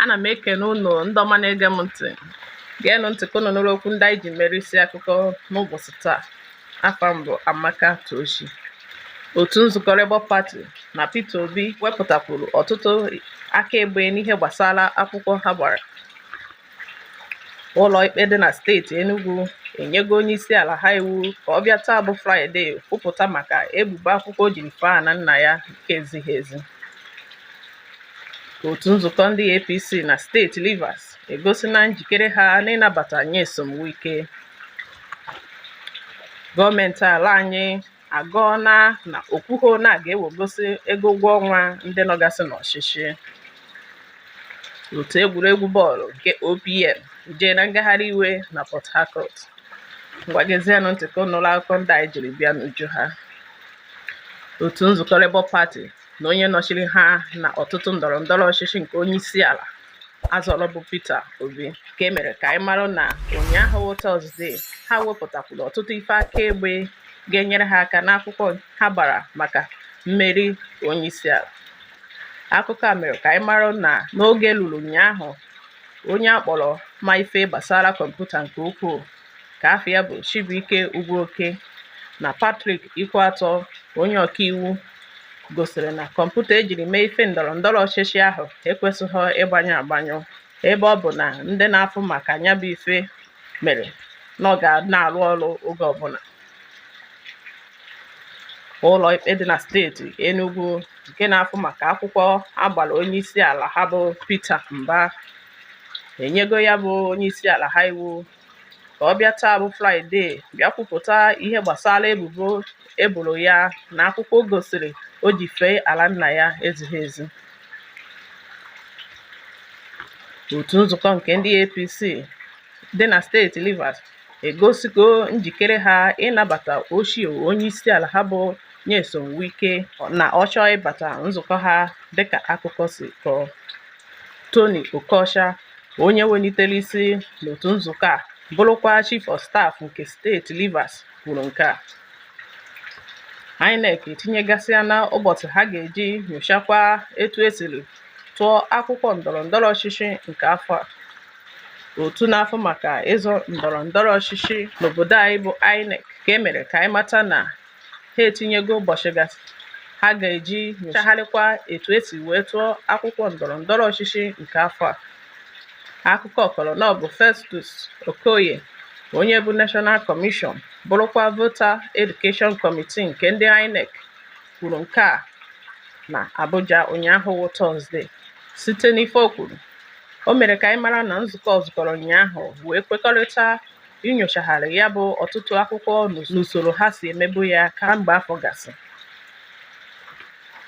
ana m ekene ụnụ ndị ọma na-ege m ntị geenụ ntị ka ụnụ nụrụ okwu ndị anyị ji mere isi akụkọ n'ụbọchị taa afa m bụ Amaka Tochi otu nzukọ Labour Party na Peter Obi wepụtakwuru ọtụtụ akaebe n'ihe gbasara akwụkwọ ha gbara ụlọikpe dị na steeti Enugu enyego onye isi ala ha iwu ka ọ bịa taa bụ Fraịde kwupụta maka ebubo akwụkwọ o jiri fee ana nna ya nke ezighi ezi otu nzukọ ndị APC na steeti Rivers egosina njikere ha n'ịnabata Nyesom Wike gọọmenti ala anyị agọọna na o kwuho na a ga-ewegosi ego ụgwọ ọnwa ndị nọgasị n'ọchịchị otu egwuregwu bọọlụ nke OPM ejeena ngagharị iwe na Port Harcourt ngwa gezienụ ntị ka ụnụ nụrụ akụkọ ndị anyị jiri bịa n'uju ha otu nzukọ Labour Party na onye nọchiri ha na ọtụtụ ndọrọ ndọrọ ọchịchị nke onye isi ala a zọrọ bụ Peter Obi ka e mere ka anyị mara na ụnyaahụ bụ Tọzdee ha wepụtakwuru ọtụtụ ife akaebe ga-enyere ha aka n'akwụkwọ ha gbara maka mmeri onyeisiala akụkọ a mere ka anyị mara na n'oge lulu ụnyaahụ onye a kpọrọ ma ife gbasara kọmputa nke ukwuu ka afa ya bụ Chibuike Ugwuoke na Patrick Ikwueto onye ọkaiwu gosiri na kọmputa e jiri mee ife ndọrọ ndọrọ ọchịchị ahụ ekwesịghị ịgbanyụ agbanyụ ebe ọ bụ na ndị na-afụ maka nya bụ ife mere na ọ ga na-arụ ọrụ oge ọbụla ụlọ ikpe dị na steeti Enugu nke na-afụ maka akwụkwọ a gbara onye isi ala ha bụ Peter Mba enyego ya bụ onye isi ala ha iwu ka ọ bịa taa bụ Fraịde bịa kwupụta ihe gbasara ebubo e boro ya na akwụkwọ gosiri o ji fee ala nna ya ezighi ezi otu nzukọ nke ndị APC dị na steeti Rivers egosigo njikere ha ịnabata ochie onyeisiala ha bụ Nyesom Wike na ọ chọọ ịbata nzukọ ha dịka akụkọ si kọọ Tony Okocha onye welitere isi n'otu nzukọ a bụrụkwa chief of staff nke steeti Rivers kwuru nke a INEC etinyegasịana ụbọchị ha ga-eji nyochakwa etu e siri tụọ akwụkwọ ndọrọ ndọrọ ọchịchị nke afọ a otu na-afụ maka ịzọ ndọrọ ndọrọ ọchịchị n'obodo anyị bụ INEC ka e mere ka anyị mata na ha etinyego ụbọchị gasị ha ga-eji nyochagharịkwa etu e si wee tụọ akwụkwọ ndọrọ ndọrọ ọchịchị nke afọ a akụkọ kọrọ na ọ bụ Festus Okoye onye bụ National Commission bụrụkwa Voter Education Committee nke ndị INEC kwuru nke a na Abuja ụnyaahụ wụ Tọzde site n'ife o kwuru o mere ka anyị mara na nzukọ zukọrọ ụnyaahụ wee kwekọrịta inyochagharị ya bụ ọtụtụ akwụkwọ n'usoro ha si emebu ya kamgbe afọ gasị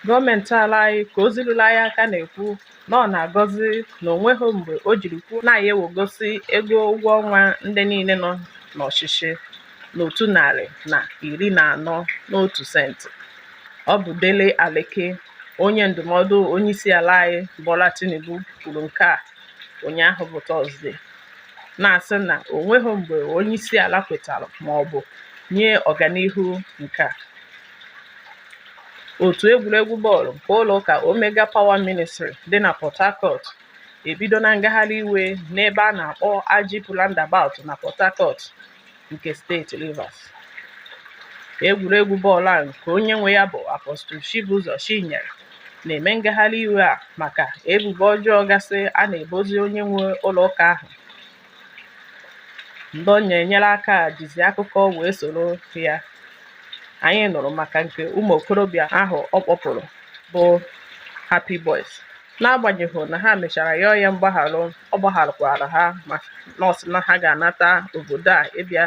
gọọmenti ala anyị ka ozi ruru anyị aka na-ekwu na ọ na-agọzi na onweghị mgbe o jiri kwuo na ya ewegosi ego ụgwọ ọnwa ndị niile nọ n'ọchịchị n'otu narị na iri na anọ n'otu senti ọ bụ Dele Aleke onye ndụmọdụ onye isi ala anyị Bola Tinubu kwuru nke a ụnyaahụ bụ tọzde na-asị na o nweghị mgbe onye isi ala kwetara ma ọ bụ nye ọganihu nke a otu egwuregwu bọọlụ nke ụlọ ụka omega power ministry dị na port harcourt ebidona ngagharị iwe n'ebe a na-akpọ agip roundabout na port harcourt nke steeti Rivers egwuregwu bọọlụ a nke onye nwe ya bụ Apostle Chibuzor Chinyere na-eme ngagharị iwe a maka ebubo ọjọọ gasị a na-ebozi onye nwe ụlọ ụka ahụ ndị ọ na-enyere aka jizi akụkọ wee soro ya anyị nụrụ maka nke ụmụ okorobịa ahụ ọ kpọpụrụ bụ Happy Boys n'agbanyeghị na ha mechara yọọ ya mgbaghara ọ gbagharụkwara ha mana ọ sị na ha ga-anata obodo a ịbịa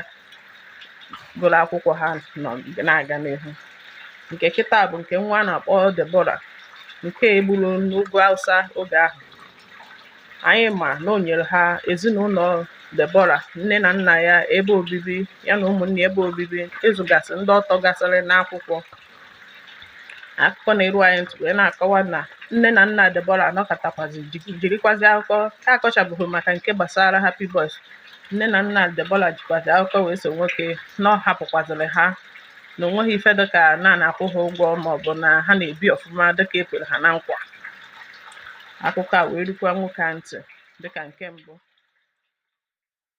gụrụ akwụkwọ ha nọ na-aga n'ihu nke kịta bụ nke nwa a na-akpọ Deborah nke e gburu n'ugwu Hausa oge ahụ anyị ma na o nyere ha ezinụlọ Deborah nne na nna ya ebe obibi ya na ụmụnne ebe obibi ịzụgasị ndị ọ tọgasịrị n'akwụkwọ akụkọ na-eru anyị ntị wee na-akọwa na nne na nna Deborah anọkatakwazi ji- jirikwazi akụkọ a kọchabeghị maka nke gbasara Happy Boys nne na nna Deborah jikwazi akụkọ wee so nwoke na ọ hapụkwazịrị ha na onweghị ife dịka na a na-akwụ ha ụgwọ maọbụ na ha na-ebi ọfụma dịka e kwere ha na nkwa akụkọ a wee rukwa nwoke a ntị dịka nke mbụ